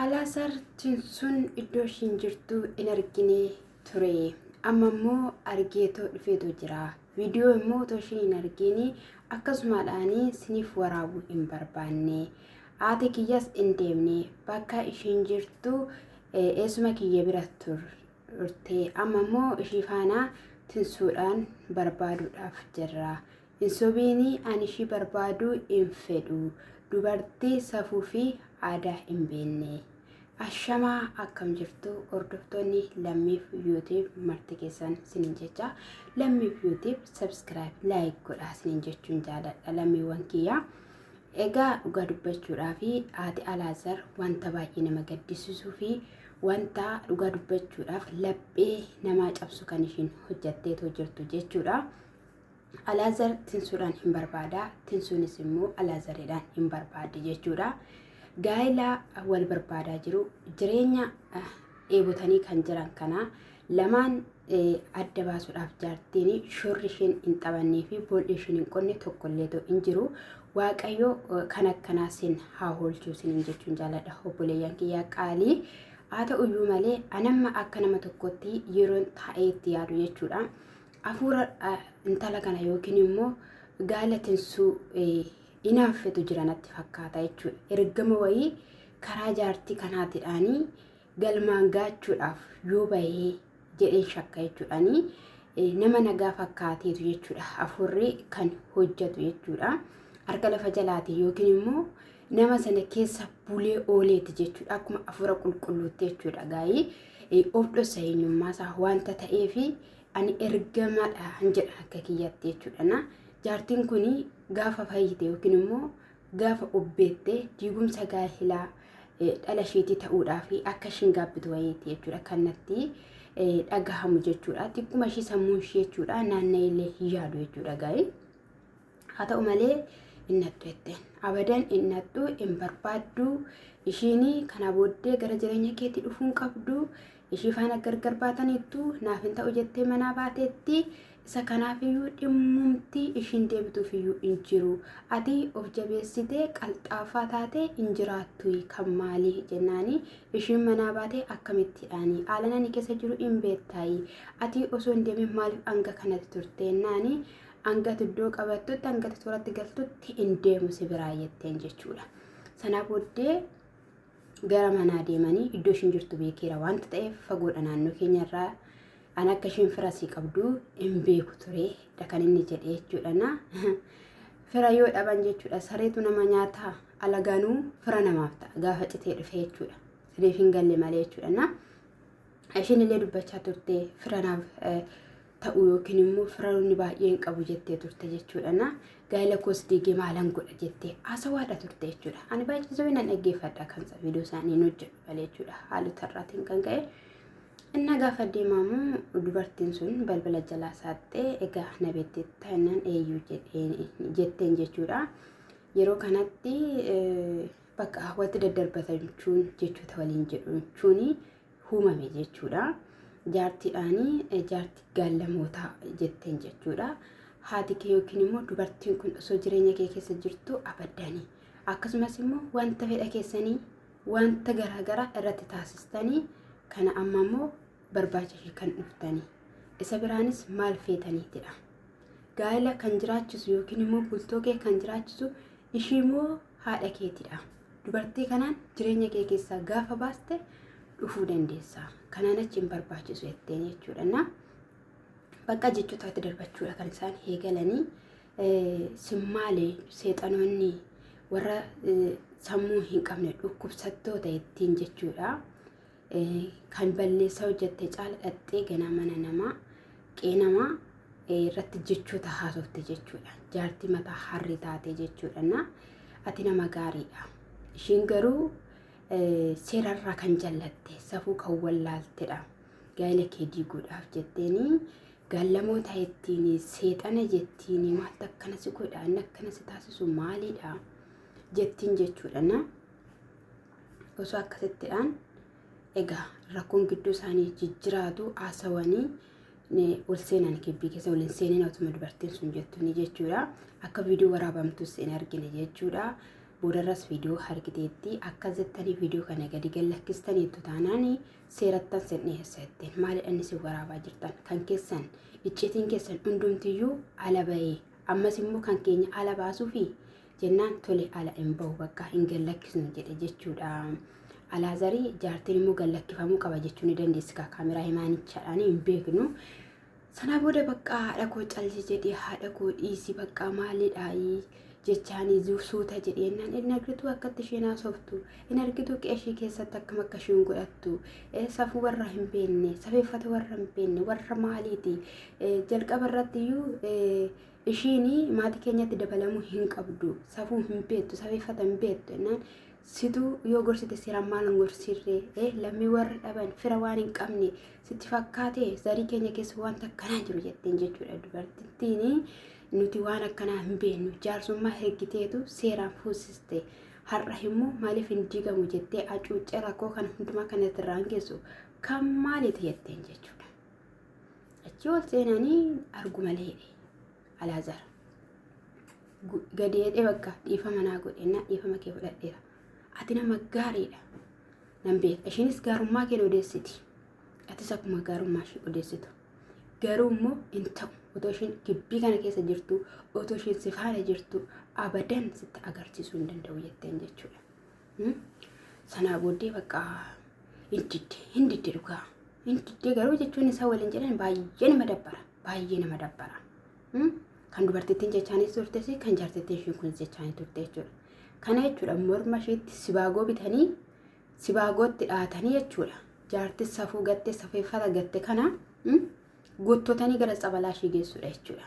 Alaazaar Tinsuun iddoo ishiin jirtu in argine ture. Amma immoo argeetoo dhufeetoo jira. Viidiyoo immoo otoo ishiin hin argine akkasumaadhaan siniif waraabuu hin barbaanne. Haati kiyyas in deemne bakka ishiin jirtu eessuma kiyya bira turte. Amma immoo ishii faana tinsuudhaan barbaaduudhaaf jirra. Hin sobiini ani ishii barbaaduu hin fedhu dubartii safuu fi aadaa hin beenne. Ashamaa akkam jirtu hordoftoonni lammiif yuutiib marti keessan sinin jecha lammiif yuutiib sabskiraayib laayik godhaa sinin jechuun jaaladha lammiiwwan kiyyaa. Egaa dhugaa dubbachuudhaa fi haati Alaazar wanta baay'ee nama gaddisiisuu fi wanta dhugaa dubbachuudhaaf laphee namaa cabsu kan ishiin hojjatteetoo jirtu jechuudha. Alaazar tinsuudhaan hin barbaada, tinsuunis immoo Alaazaridhaan hin barbaaddi jechuudha. Gaa'ila wal barbaadaa jiru, jireenya eh, dheebotanii kan jiran kana lamaan eh, adda baasuudhaaf jaartiin shorri isheen hin taphannee fi boolli isheen hin qonne tokkollee ta'u hin jiru. Waaqayyo eh, kan akkanaa sin haa hoolchuu sinin jechuun jaaladha obboleeyyan kiyyaa qaalii. Haa ta'uyyuu malee anamma akka nama tokkotti yeroon taa'ee itti yaadu jechuudha. Afuura intala kana yookiin immoo gaala tinsuu inaaffetu jira natti fakkaata jechuudha. Ergama wayii karaa jaartii kanaatidhaanii galmaan gaachuudhaaf yoo bahee jedheen shakka jechuudhaanii nama nagaa fakkaateetu jechuudha. Afuurri kan hojjetu jechuudha. Harka lafa jalaatiin yookiin immoo nama sana keessa bulee ooleeti jechuudha. Akkuma afuura qulqulluutti jechuudha. Gaa'ii of dhossa eenyummaa isaa wanta ta'eefi ani ergamaadhaan jedha akka kiyyaatti jechuudha na jaartiin kun gaafa fayyite yookiin immoo gaafa obbeette diigumsa gaa'elaa dhala isheetii ta'uudhaa fi akka ishiin gaabbitu wayiiti jechuudha kanatti dhagahamu jechuudha xiqquma ishii sammuu ishii jechuudha naanna'ee illee hin yaadu jechuudha gaa'ee. Haa ta'u malee hin nattu jetteen. Abadan hin nattu hin barbaaddu. Ishiin kana booddee gara jireenya keetti dhufuu hin qabdu. Ishii faana gargar baataniittu naaf hin ta'u jettee manaa baateetti. Isa kanaafiyyuu dhimmumti ishiin deebituufiyyuu hin jiru. Ati of jabeessitee qalxaafaa taatee hin jiraattu kan maali jennaani ishiin manaa baatee akkamittiidhaani haalan ani keessa jiru hin beektaayi. Ati osoo hin deemin maaliif hanga kanatti turte jennaani Hangati iddoo qabattutti hangati tooratti galtutti hin deemu si biraa jetteen jechuudha. Sanaa booddee gara manaa deemanii iddoo ishiin jirtu beekeera wanta ta'eef fagoodha naannoo keenyarraa an akka ishiin fira sii qabdu hin beeku ture dha kan inni jedhe jechuudha na fira yoo dhaban jechuudha sareetu nama nyaata alagaanuu fira namaaf ta'a gaafa citee dhufe jechuudha siniif hin galle malee jechuudha na Ishiin illee dubbachaa turte fira naaf ta'u yookiin immoo firaroonni baay'een qabu jettee turte jechuudha. Na gaa'ela koos diigee maalan godha jettee haasawaadha turte jechuudha. Ani baay'ee sobee nan dhaggeeffadha kan viidiyoo isaanii hin hojjetu malee jechuudha. Haalota irraatiin kan ka'e. Inna gaafa deemamu dubartiin sun balbala jalaa saaxxee egaa na beetti taanaan eeyyuu jetteen jechuudha. Yeroo kanatti bakka watti daddarbatamchuun jechoota waliin jedhamchuun humame jechuudha. Jaartiidhaanii jaarti gaallamootaa jetteen jechuudha. Haati kee yookiin immoo dubartiin kun osoo jireenya kee keessa jirtu abaddanii akkasumas immoo wanta fedha keessanii wanta garaagaraa irratti taasistanii kana amma immoo barbaacha ishee kan dhuftanii isa biraanis maal feetaniitidha. Gaa'ela kan jiraachisu yookiin immoo bultoo kee kan jiraachisu ishii immoo haadha keetidha. Dubartii kanaan jireenya kee keessaa gaafa baaste dhufuu dandeessa. Kanaan achi hin barbaachisu jetteen jechuudha. Na bakka jechoota itti darbachuudha kan isaan eegalanii simmaalee seexanoonni warra sammuu hin qabne dhukkubsattoota ittiin jechuudha. Kan balleessaa hojjette caala dhaxxee ganaa mana namaa qee namaa irratti jechoota haasofte jechuudha. Jaartii mataa harri taate jechuudha. Na ati nama gaariidha. Ishiin garuu seerarraa kan jallatte safuu kan wallaaltedha. Gaa'ela kee diiguudhaaf jetteeni gaallamoota ittiin seexana jettiin maaltu akkana si godha inni akkana si taasisu maalidha jettiin jechuudha. Na Osoo akkasitti dhaan egaa rakkoon gidduu isaanii jijjiraatu haasawanii ol seenan kibbii keessa waliin seenin otuma dubartiin sun jettu ni jechuudha. Akka viidiyoo waraabamtus hin argine jechuudha. Boodarras viidiyoo harkiteetti akka jettanii viidiyoo kana gadi gallakkistaniittu taanaan seerattan sin dhiyeessa jetteen maalidhaan isin waraabaa jirtan kan keessan iccitiin keessan hundumtiyyuu ala bahee ammas immoo kan keenya ala baasuu fi jennaan tole ala hin bahu bakka hin gallakkisnu jedhe jechuudha. Alaazarii jaartiin immoo gallakkifamuu qaba jechuu ni dandeessi kaa kaameraa himaanichaadhaan hin beeknu. Sana booda bakka haadha koo calli jedhee haadha koo dhiisi bakka maalidhaayii jechaanii zu- suuta jedhee jennaan hin argitu akkatti isheen haasoftu hin argitu qeeshii keessatti akkam akka isheen godhattu eh, safuu warra hin beekne safeeffata warra hin beekne warra maaliiti eh, jalqaba irratti iyyuu eh, Ishiin maatii keenyatti dabalamuu hin qabdu. Safuu hin beektu, safeeffata hin beektu jennaan situ yoo gorsite seeraan maal hin gorsirre eh, lammii warra dhaban fira waan hin qabne sitti fakkaate zarii keenya keessa wanta akkanaa jiru jetteen jechuudha dubartittiin nuti waan akkanaa hin beeknu jaarsummaa hergiteetu seeraan fuusiste har'a immoo maaliif hin diigamu jettee acuuccee rakkoo kana hundumaa kanatti irraan geessu kan maaliiti jetteen jechuudha. Achi ol seenanii argu malee Alaazaar. Gadeedhee bakka dhiifama naa godhe naa dhiifama kee fudhadheera. Ati nama gaariidha. Nan beeka. Ishiinis gaarummaa kee odeessiti. Atis akkuma gaarummaa ishee odeessitu. Garuu immoo hin ta'u. Otoo ishiin gibbii kana keessa jirtu, otoo ishiin si faana jirtu, abadan sitti agarsiisuu hin danda'u jetteen jechuudha. Sanaa booddee bakka hin didde hin didde dhugaa hin didde garuu jechuun isaa waliin jedhan baay'ee nama dabbara baay'ee nama dabbara. Kan dubartittiin jechaanis turte fi kan jaartittiin ishiin kun jechaanii turte jechuudha. Kana jechuudha morma ishiitti sibaagoo bitanii sibaagootti dhaatanii jechuudha. Jaartis safuu gatte safeeffata gatte kana guuttotanii gara tsabalaa ishii geessudha jechuudha.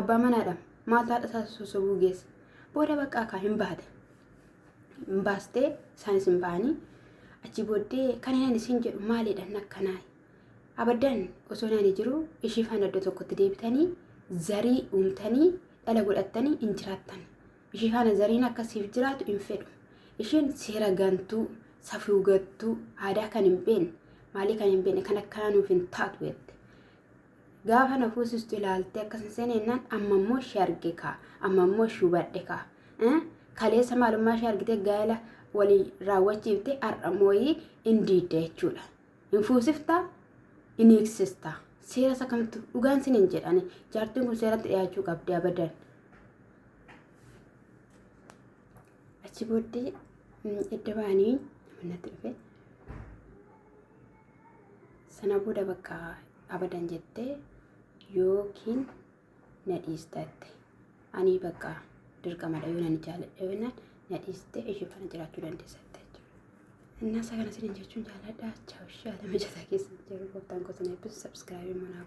Abbaa manaadha maaltu haadha isaa sossobuu geesse booda baqqaa kaa hin baate hin baastee isaanis hin ba'anii achi booddee kan inni isin jedhu maaliidhaan akkanaa abaddan osoo inni jiru ishii faana iddoo tokkotti deebitanii zarii uumtanii dhala godhattanii hin jiraattan ishii faana zariin akka siif jiraatu hin fedhu ishiin seera gantuu safuu gattuu aadaa kan hin beekne maalii kan hin beekne kan akkanaa nuuf hin taatu jette Gaafa na fuusistu ilaaltee akkas hin seene jennaan amma immoo ishee arge kaa amma immoo ishee hubadhe kaa Eh? kaleessa maalummaa ishee argitee gaa'ela walii raawwachiifte har'a mooyii hin diidda jechuudha hin fuusiftaa hin hiiksistaa seera isa kamtu dhugaan sin hin jedhani jaartiin kun seeratti dhiyaachuu qabdi abadan achi booddee mm, edda ba'anii natti dhufe sana booda bakka abadan jette yookiin na dhiistatte anii bakka dirqamadha yoo nan jaaladha yoo nan na dhiiste ishee kana jiraachuu dandeessatte jechuudha. Innaa isaa kana isin jechuun jaaladha. Chaawushaa lama jataa keessa jiru gooftaan gosa na eebbisu sabskraabii manaa.